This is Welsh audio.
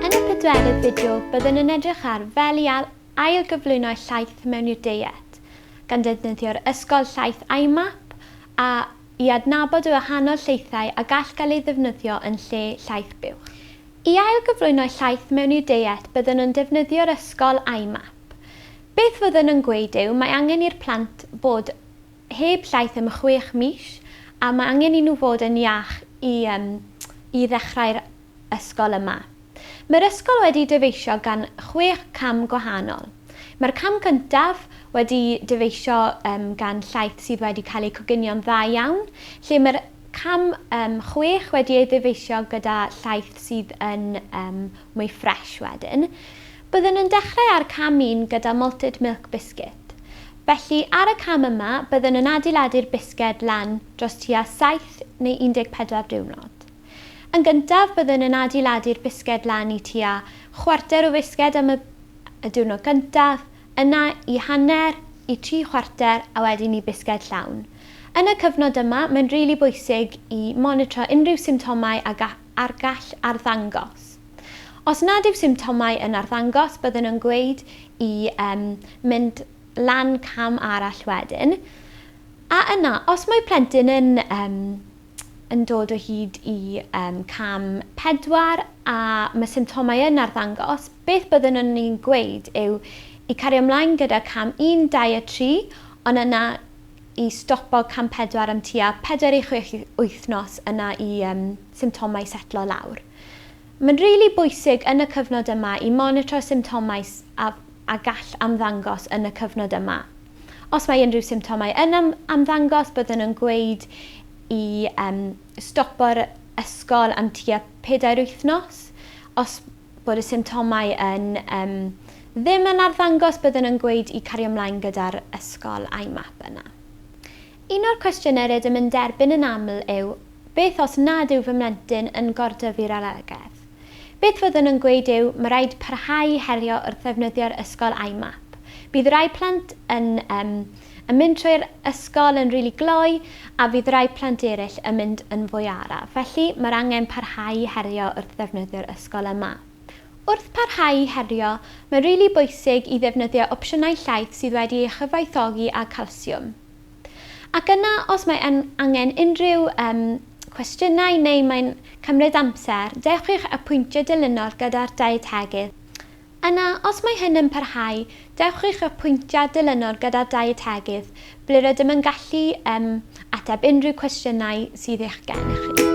Yn y pedwerydd fideo, byddwn yn edrych ar fel i ailgyflwyno llaeth mewn i'r deiet, gan ddefnyddio'r ysgol llaeth IMAP a i adnabod y wahanol llaethau a gall gael ei ddefnyddio yn lle llaeth buwch. I ailgyflwyno llaeth mewn i'r deiet byddwn yn defnyddio'r ysgol IMAP. Beth fyddwn yn gweud yw mae angen i'r plant fod heb llaeth am chwech mis a mae angen i nhw fod yn iach i yym i ddechrau'r ysgol yma. Mae'r ysgol wedi dyfeisio gan chwech cam gwahanol. Mae'r cam cyntaf wedi dyfeisio yym gan llaeth sydd wedi cael eu coginio'n dda iawn, lle mae'r cam yym chwech wedi ei ddyfeisio gyda llaeth sydd yn yym mwy ffresh wedyn, byddwn yn dechrau ar cam un gyda Malted Milk Biscuit. Felly, ar y cam yma, byddwn yn adeiladu'r bisged lan dros tua 7 neu 14 diwrnod. Yn gyntaf, byddwn yn adeiladu'r bisged lan i tua chwarter o fisged am y y diwrnod gyntaf, yna i hanner, i tri chwarter a wedyn i bisged llawn. Yn y cyfnod yma, mae'n rili bwysig i monitro unrhyw symptomau a a'r gall arddangos. Os nad yw symptomau yn arddangos, byddwn yn gweud i um, mynd lan cam arall wedyn. A yna, os mae plentyn yn, um, yn dod o hyd i um, cam pedwar a mae symptomau yn arddangos, beth byddwn yn ni'n gweud yw i cario ymlaen gyda cam un, dau a tri, ond yna i stopo cam pedwar am tua pedwar i chwech wythnos yna i um, symptomau setlo lawr. Mae'n rili really bwysig yn y cyfnod yma i monitro symptomau a, a gall amddangos yn y cyfnod yma. Os mae unrhyw symptomau yn am, amddangos, byddwn yn gweud i um, stopo'r ysgol am tua pedair wythnos. Os bod y symptomau yn yym ddim yn arddangos byddwn yn gweud i cario mlaen gyda'r ysgol a'i map yna. Un o'r cwestiynau rydym yn derbyn yn aml yw beth os nad yw fy mlentyn yn gordyfu'r alergedd? Beth fyddwn yn gweud yw mae rhaid parhau i herio wrth ddefnyddio'r ysgol a'i map. Bydd rhai plant yn yym yn mynd trwy'r ysgol yn rili gloi a fydd rai plant eraill yn mynd yn fwy araf, felly mae'r angen parhau i herio wrth ddefnyddio'r ysgol yma. Wrth parhau i herio, mae'n rili bwysig i ddefnyddio opsiynau llaeth sydd wedi ei chyfoethogi â calsiwm. Ac yna, os mae yn angen unrhyw um, cwestiynau neu mae'n cymryd amser, dewch i'ch apwyntio dilynol gyda'r dietegydd Yna, os mae hyn yn parhau, dewch i'ch apwyntiad dilynol gyda'r dietegydd, ble rydym yn gallu um, ateb unrhyw cwestiynau sydd eich gennych chi.